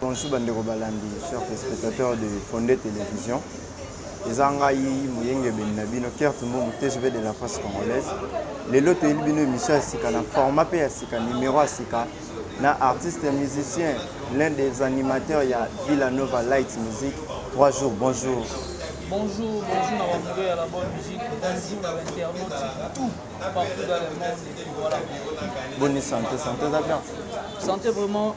Bonjour ba ndeko balandi chers telespectateurs de Fonde Television. Eza ngai moyengebeni na bino Kurt Mbumbu TGV de la France Congolaise. Lelo toyeli bino emission ya sika na format pe ya sika numero ya sika na artiste musicien l'un des animateurs ya Villa Nova Light Music 3 jours. Bonjour. Bonjour, bonjour na bambo ya la bonne musique. Bonjour na internautes tout partout dans le monde. Voilà. Bonne santé, santé eza bien. Santé vraiment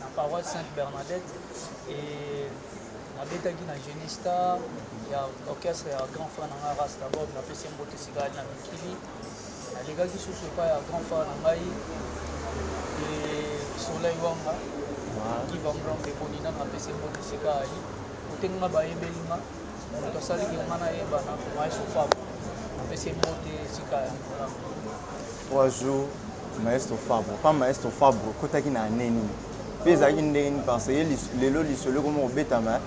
na paroisse Sainte Bernadette et na betaki na Genie Star ya orchestre ya grand frère na ngai Rasta Bob na pesi mbote sika ali na mikili na legaki susu epai ya grand frère na ngai et Soleil Wanga qui va me rendre boni na pesi mbote sika ali kote nga bayebeli nga moto asali ke nga nayebana maestro Fab na pesi mbote sika ali Trois jours maestro Fabro pa maestro Fabro kotaki na année nini pe ezalaki ndenge nini parce que lelo lisolo ekomi kobetama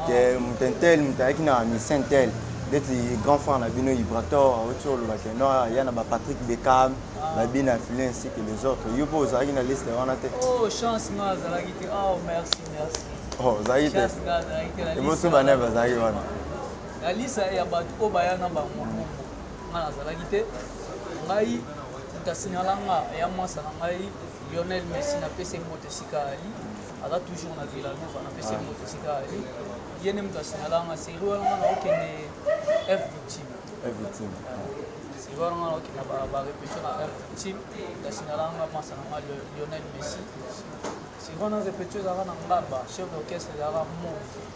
ke mutentel mutu ayaki na misentel ndeti grand frère na bino Ibrator auti oloba ke non ya na ba Patrick Beckham ba Bin Affle ainsi que les autres yo pe ozalaki na liste wana te oh chance nga azalaki te oh merci merci oh ozalaki te chance nga azalaki te liboso bana bazalaki wana na liste ya bato oyo baya na bango Nga nazalaki te ngai mutu asinala nga eya muasa na ngai Lionel Messi na pese mbote esika ali aza toujours na Villa Nova na pese mbote esika ali ye nde mutu asinala nga serie wana nga naokende F victime F victime serie wana nga naokende ba ba repetition na F victime asinala nga muasa na ngai Lionel Messi serie wana repetition ezalaka na ngaba chef d'orchestre ezalaka mo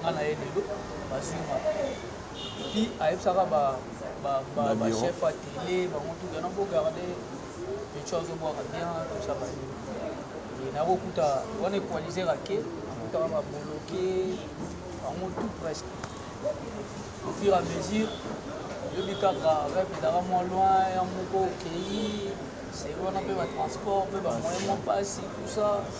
nga na ye lelo bazui nga puis ayebisaka ba ba ba, ba chef ya tele bango tout na bo garde micho azo bwaka bien tout ça ba et na ko kuta wana equaliser ake akutaka ba boloke bango tout presque au fur et à mesure yobi kaka rep ezalaka mwa loin ya moko okei seri wana mpe batransport mpe bamoyen mwa mpasi tout ça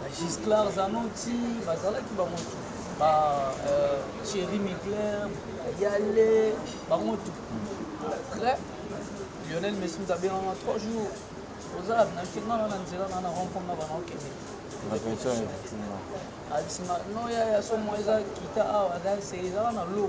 Ba Gisclard Zanoti bazalaki bango tout. Ba euh, Thierry Migler, Yale, bango tout. Après, Lionel Messi nous a bien en trois jours. Aux armes, na kinga na nzela na na rencontre na bana okende. La pension est effectivement. Abisima, non ya ya somo eza kita awa, c'est eza na lobo.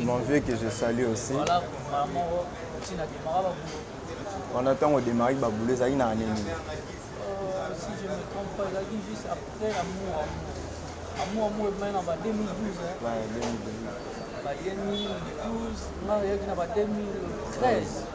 Mon vieux que je salue aussi. Wana ntango odemari babulo ezalaki na ane nini? Ouais, 2012.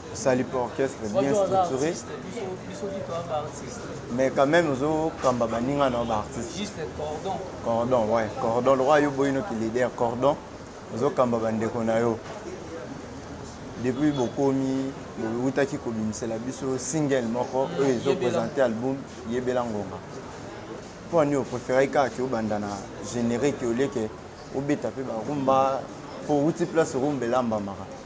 Osali pe orchestre bien structure mais quand même ozo kamba baninga na ba artistes. Cordon ouais, cordon lokola yo boyi no ki leader cordon ozo kamba ba ndeko na yo. Depuis bokomi bowutaki kobimisela biso single moko oyo ezo presenter album yebela ngonga. Mpo nini opreferaki kaka ke obanda na generique oleke obeta mpe barumba mpo owuti place rumba elambamaka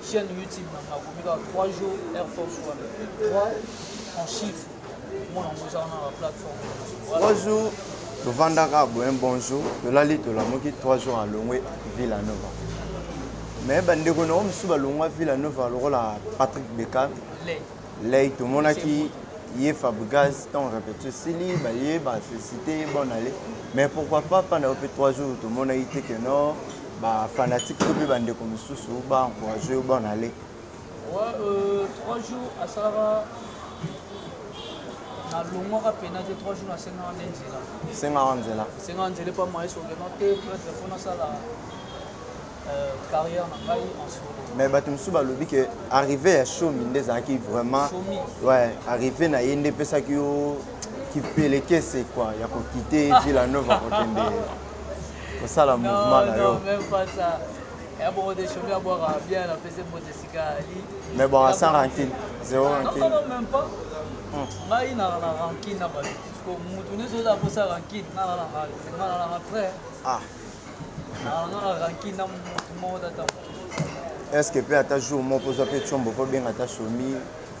Chaine YouTube na nga akomi kaka 3 jours Air Force One. 3 en chiffre. Mwana ngo eza wana na plateforme. 3 jours tovandaka boye un bon jour tolali tolamuki 3 jours alongwe Villa Nova. Mais bandeko na yo mosusu balongwa Villa Nova lokola Patrick Beckham. Les. Ley tomonaki ye Fabregas ntango repetition esili baye ba felicite ye bonne annee mais pourquoi pas mpa na yo mpe 3 jours tomonaki te que non ba fanatique to mpe bandeko mosusu ba encourage yo bonne annee Ouais, euh, trois jours asalaka nalongwaka mpena te trois jours nasengaka nde nzela sengaka nzela sengaka nzela epa maestro vraiment te prêtre mpo nasala mais bato mosusu balobi ke arrive ya shomi nde ezalaki vraiment ouais, arrive na ye nde epesaki yo kipelekese kua ya kokite villa nova kokende kosala mouvement na yo mais bon sans rancune zéro rancune ngai na rancune na bato motu nyonso oza aposa rancune ngai na rancune ngai na rancune ah Est ce que pe ata jour moko ozwa pe tshombo po benga ata shomi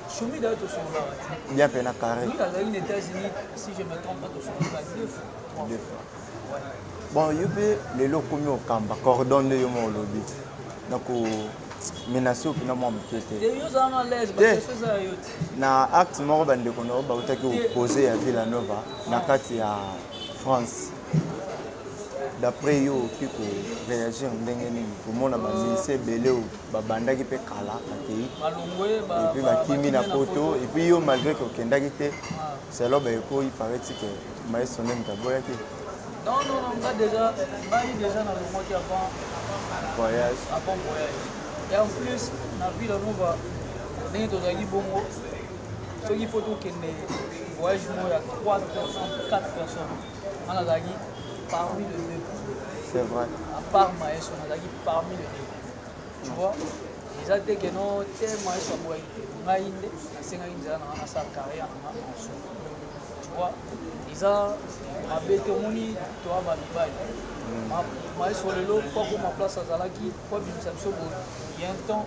Shumi d'ailleurs tosololaka te. bien pe na carré Lobi azalaki na Etats-Unis, si je me trompe pas, tosololaka deux fois, trois deux fois. fois Ouais. bon yo pe lelo okomi okamba cordon nde yo moko olobi na ko menace yo mpena mwa moke te Te yo ozala na l'aise, Te. bakestion eza ya yo te. na acte moko bandeko na yo bautaki Te. opose ya villanova na kati ya france D'après yo okoki ko reagir ndenge nini komona ba musiciens ebele oyo babandaki mpe kala bakeyi epuis bakimi na poto epuis yo malgre que okendaki te selon ba echos il parait-il que maestro nde moto aboyaki voyage? nga nazalaki parmi le deux c'est vrai à part maestro nazalaki parmi le deux tu vois eza te ke no te maestro aboyaki te ngai nde nasengaki nzela na nga nasala carrière na nga en solo tu vois eza mabe te omoni toa bamibali maestro lelo po akoma place azalaki po abimisa biso boye il y a un temps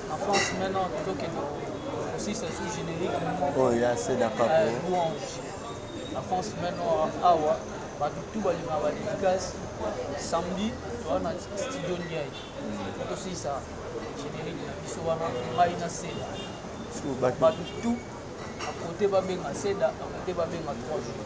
Oyo ya seda papo. La France maintenant awa bato tout balingaka badédicace samedi toa na studio ndiaye po tosilisa générique na biso wana ngai na seda bato tout akote babenga seda akote babenga trois jours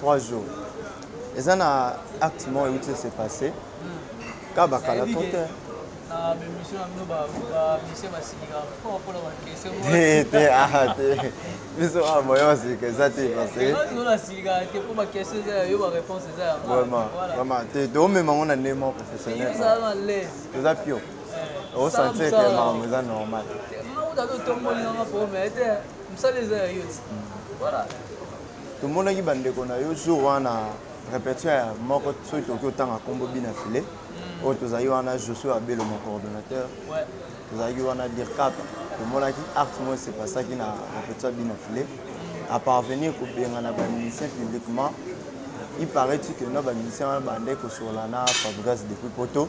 Trois jours. Eza na acte moko euti ese passe kaka bakala to te biso awa moyen basika eza te vraiment te toomema yango na ndenge moko professionnel toza pio O sentir que makambo eza normal. Tomonaki ba ndeko na yo jour wana repetition ya moko soki tokoki otanga kombo bina filet oyo tozalaki wana Josué Abelo mon coordonnateur tozalaki wana DIRCAP tomonaki acte moko se passaki na repetition ya bina filet à parvenir kobengana ba musiciens publiquement il paraît-il que na ba musiciens wana babandaki kosolola na Fabregas depuis poto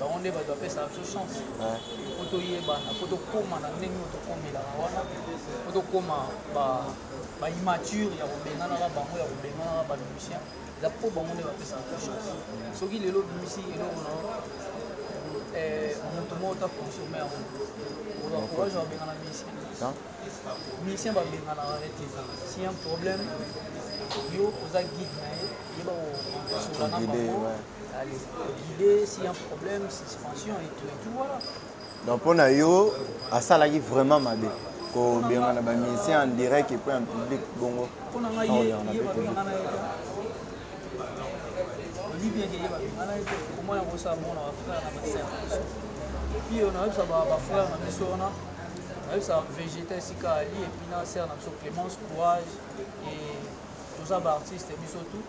Bango nde bato bapesaka biso chance mpo toyebana, mpo tokoma na ndenge oyo tokomelaka wana, mpo tokoma ba immature ya kobenganaka bango, ya kobenganaka ba musicien. Eza mpo bango nde bapesaka biso chance. Soki lelo obimisi eloko na eh, moto moko ta consomme yango, oza courage ya kobengana musicien musicien babenganaka ye te si un problème yo oza guide na ye yeba kosola na bango Donc mpo na yo asalaki vraiment mabe kobengana ba musicien en direct et puis en public bongo ayebisaka vegeta esika ali epuis na sere na biso clémence courage toza baartiste biso tout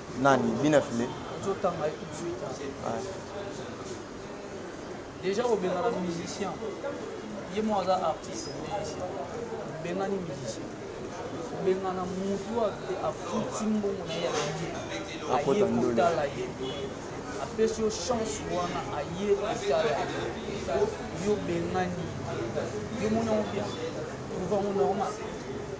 Nani bien affile. Ozo tanga ye tout de suite. Ouais. Deja ko benga na musicien. Ye mo aza artiste musicien. Benga ni musicien. Benga na mutu ate afuti mbongo na ye ya billet. Aye kotala ye. Apesi yo chance wana aye kotala ye. Yo bengani. Yo moni yango bien. Trouve yango normal.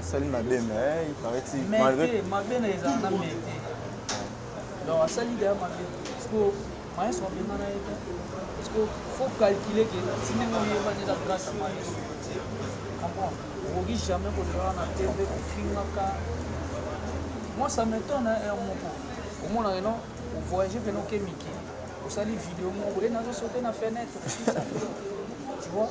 asali mabe mais il paraît ti malgré mais mabe na eza na mabe donc asali de mabe parce que maes wa benga na ete parce que faut calculer que si ndenge oyeba nde na grâce à maes comprendre okoki jamais koleka na tv kofingaka moi ça m'étonne hein heure moko omona que non ovoyage pena oke mikili osali video moko boye nazosote na fenêtre tu vois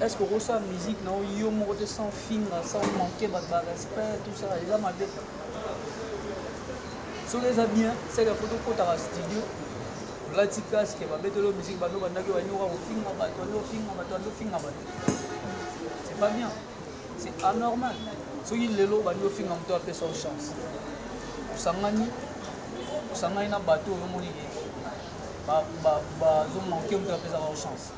Est-ce que oko sala musique na yo yo moko te sans ofinga, sans o manquer batu ba respect tout ça eza mabe? Soki eza bien c'est que faut okotaka studio olati casque ba beteli yo musique banda obandaki oya nde okoka kofinga batu banda ofinga batu banda ofinga batu c'est pas bien c'est anormal soki lelo obandi ofinga moto apesa yo chance osangani osangani na bato oyo omoni ke bazomanke moto apesaka yo chance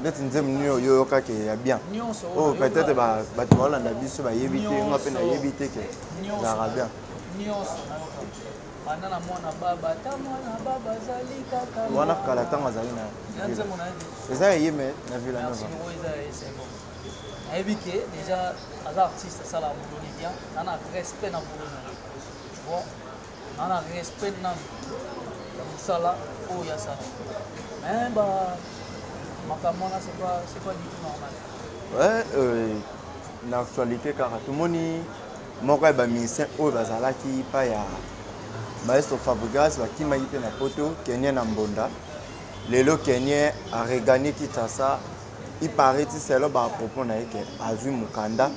ndeti nzembo nini oyo oyokaki ya bien oyo peut-être bato baolanda biso bayebi te nga mpe nayebi te ke ezalaka bien wana kala ntango azali na eza ya ye me na vila nova nayebi ke deja aza artiste asala boloni bien ana respect na boloni bon Aza na respect na ya musala oyo ya sala. Mais ba makambo wana c'est pas c'est pas du tout normal. Ouais, euh, na actualité kaka tomoni moko ya ba musiciens oyo bazalaki pa ya maestro Fabregas bakimaki mpe na poto Kenien na Mbonda lelo Kenien aregani Kinshasa ipariti selo ba propos na ye ke azwi mokanda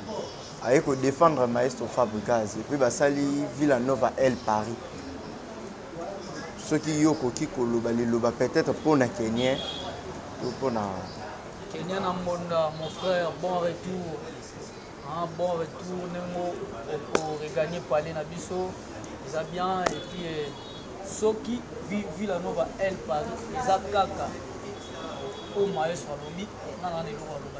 Aye ko defendre maestro fabrigaz epuis basali villa nova elle paris soki yo okoki koloba liloba peut etre pona kenien to pona kenien na mbonda mon frère bon retour hein, bon retour nengo oko regagner palais na biso eza bien et puis eh, soki villa nova elle paris eza kaka oyo maestro alobi nana na eloko aloba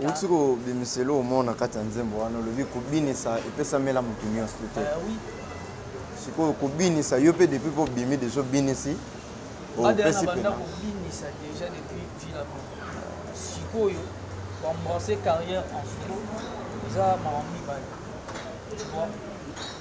Owuti ko bimisa eloko moko na kati ya nzembo wana olobi ko binisa epesamela mutu nioso te. Sikoyo ko binisa yo pe depuis pe obimi dejà obinisi opesi pema.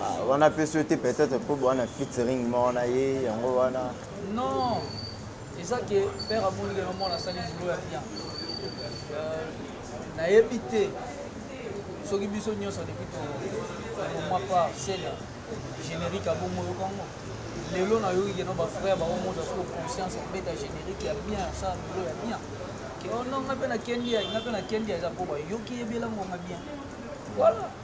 Ah, wana apesi yo te peut-être mpo bowana featuring moko na ye yango wana non eza ke père amoni lelo mwana asali bulo ya bien euh, nayebi te soki biso nyonso depuis tomwa par sena générique abongo yoka yango lelo nayoki keno bafrère bango moto asoko conscience kobeta générique ya bien asala bulo ya bien oh non ngai mpe nakendi ya ngai mpe nakendi ya eza mpo bayoki yebela ngonga bien voilà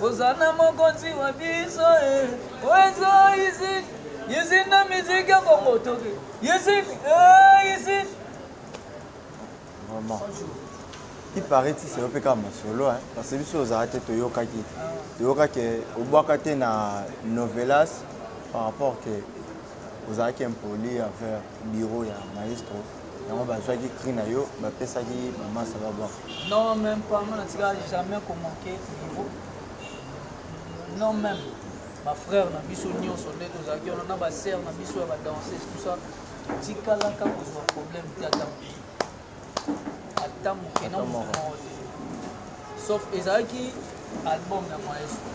Hosanna mokonzi wa biso eh. Oyo eza izine, izine na musique ya Congo toke. Izine, eh, izine. Vraiment. Il paraît que c'est OPK Masolo, hein, parce que biso ozala te toyokaki. Toyokaki obwaka te na novelas par rapport que ozalaki impoli envers bureau ya maestro. Yango bazwaki cri na yo bapesaki maman ça va bon. Non même pas nga natika jamais ko manquer niveau. Non même ba frères na biso nyonso nde tozalaki wana na ba sœurs na biso ya ba danseuse tout ça tikalaka kozwa problème te ata moke ata moke na moko te sauf ezalaki album ya maestro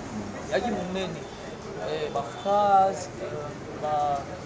ezalaki monene eh, ba phrase eh, ba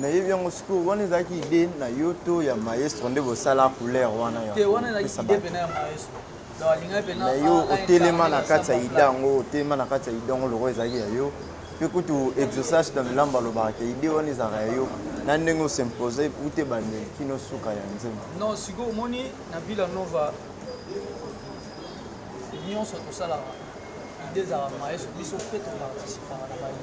nayebi yango sikoyo wana ezalaki ide na yo to ya maestro nde bosala couleur wana na yo otelema na kati ya ide yango otelema na kati ya ide yango loko ezalaki ya yo mpe kutu exosage na milambo alobaka te ide wana ezalaka ya yo na ndenge osimpose ute bandeli kino suka ya nzembo non sikoyo omoni na villa nova nyonso tosalaka ide ezalaka maestro biso mpe toparticipaka na baide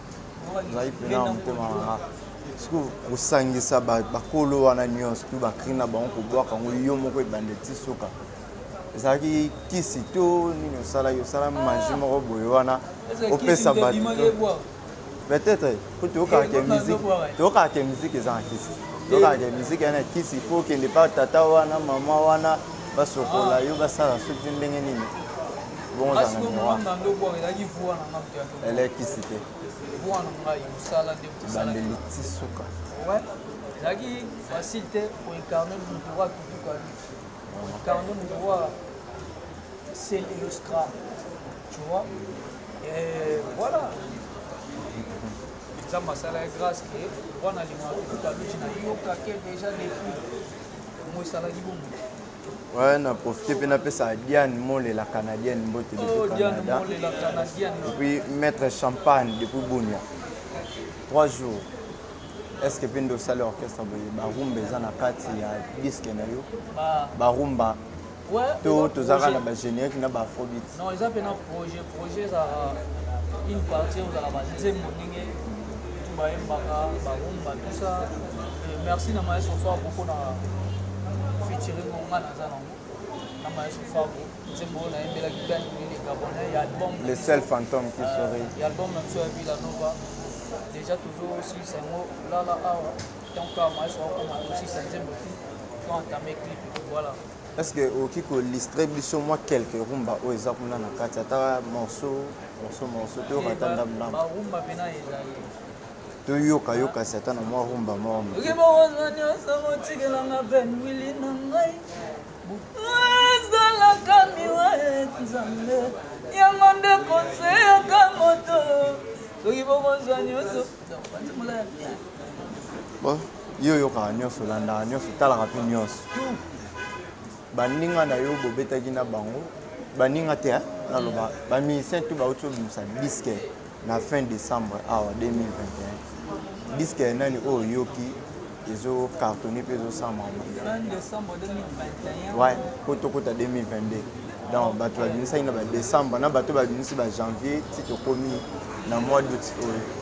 ngai pena na motema na nga sikoyo kosangisa bakolo wana nyonso mpe bakrine na bango kobwaka yango yo moko ebanda ti suka ezalaki kisi to nini osalaki osala maji moko boye wana opesa bato peut-être po toyokaka ke musique toyokaka ke musique eza na kisi toyokaka ke musique yana kisi po okende pa tata wana mama wana basokola yo basala soki ndenge nini Bongo za na miwa. Ele kisi te. Bwana ngai mosala nde mosala. Bandeli tisuka. Ouais. Ezalaki facile te pour incarner le droit tout quoi. Pour incarner le droit c'est le scram. Tu vois Et voilà. Nzambe asalaki grâce que wana limaka kutu aluti na yoka ke déjà depuis mosalaki bongo Ouais, na profiter mpe napesa Diane Molela canadienne mbote depuis Canada. Et puis maître Champagne depuis Bunia. Trois jours. Est-ce que mpe nde osali orchestre boye barumba eza na kati ya disque na yo barumba to tozalaka na bagénérique na baafrobeat Non eza pena projet projet eza une partie ozala ba nzembo ndenge tu ba embaka ba rumba tout ça euh, merci na maestro fort beaucoup na featuring ngo nga naza nango na maestro fort nzembo na embela ki ben ni gabonais ya album le seul fantôme qui euh, sourit ya album na tu abi la nova déjà toujours aussi c'est ngo là là ah tant que maestro akoma aussi c'est nzembo qui faut entamer clip voilà Est ce que oki ko listre biso mwa quelques rumba oyo eza kuna na kati ata morceau morceau morceau to yoka ata ndam ndam. Ba rumba pena ezali. To yoka yoka si ata na mwa rumba mwa mwa. Oki bo kozwa nyoso ko tikela nga Ben Willy na ngai. Ezala kami wa et Nzambe. Yango nde conseil ya ka moto. Oki bo kozwa nyoso. Bon. Yo oyokaka nionso, olandaka nionso, otalaka pe nionso. Tout. Baninga na yo bobetaki na bango, baninga te hein, naloba ba musiciens tout bawuti kobimisa disque na fin decembre awa 2021. Disque ya nani oyo oyoki ezo cartonner pe ezo sala makambo ya bien? Fin decembre 2021. Ouais, po tokota 2022. Donc batu babimisaki na ba decembre na batu babimisi ba janvier ti tokomi na mois d'aout oyo.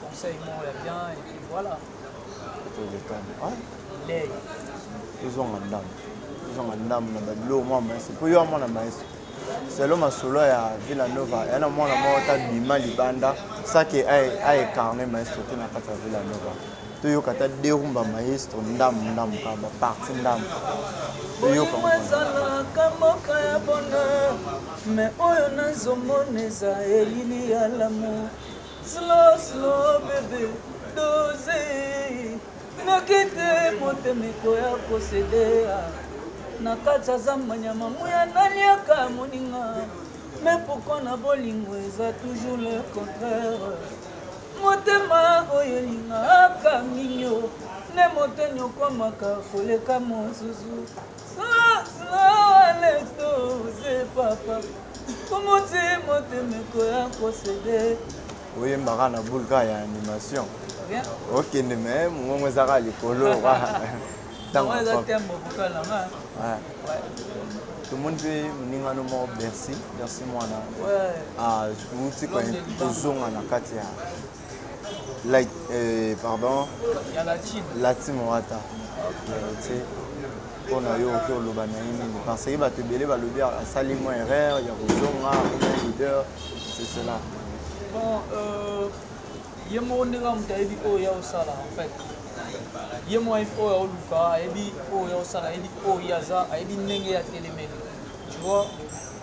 conseil moko ya bien et puis voilà lei tozonga ndambo tozonga ndambo na babiloko mwa maestro mpo yo ya mwana maestro selo masolo ya villa nova ya na mwana moko ta bima libanda sake aecarne maestro te na kati ya villa nova toyoka ta derumba maestro ndambo ndambo kaka baparti ndambo toyoka ezalaka mboka ya bonheur me oyo nazomona eza elili ya lamour Slow slow bebe dose Noki te motema ekoya kosedea Na kati ya zamba nyama muya naliaka moninga Mais pourquoi na bolingo eza toujours le contraire Motema oyo elingaka mingi o Nde moto eniokwamaka koleka mosusu oyembaka na boule kaka ya animation okende me mongongo ezaka likolo ntango tomoni mpe moningano moko bercy bercy mwana ah, outi kozonga na kati ya Like, eh, pardon. Ya la team. La team Wata. Okay. mpo na yo oke oloba na ye nini parce que bato ebele balobi asali mwa erreur ya kozonga kuna leader c'est cela bon euh, ye moko ndenge moto ayebi oyo ya osala en fait ye moko ayebi oyo aoluka ayebi oyo ya osala ayebi oyo ye aza ayebi ndenge ya telemeli tu vois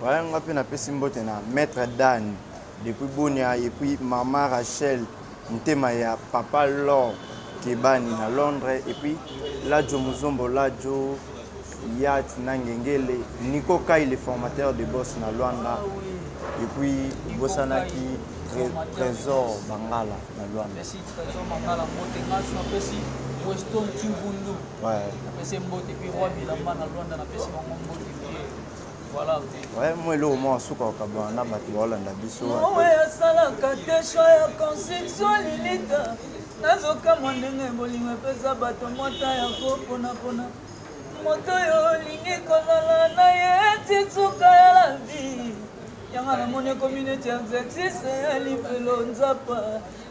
Voilà, nga pe napesi mbote na Maître Dan depuis Bunia et puis Maman Rachel Motema ya papa l'or kebani na londre epuis ladjo muzombo ladjo yacht na ngengele nico kay le formateur de boss na luanda epuis obosanaki tresor bangala na luanda. Vraiment eloko moko suka kokabwana na bato baolanda biso mawe asalaka te choix ya construction lilita nazokamwa ndenge bolingo epesa bato mwata ya koponapona moto oyo olingi kozala na ye ti suka ya la vie yanga namoni ekomi neti exercice ya lifelo nzapa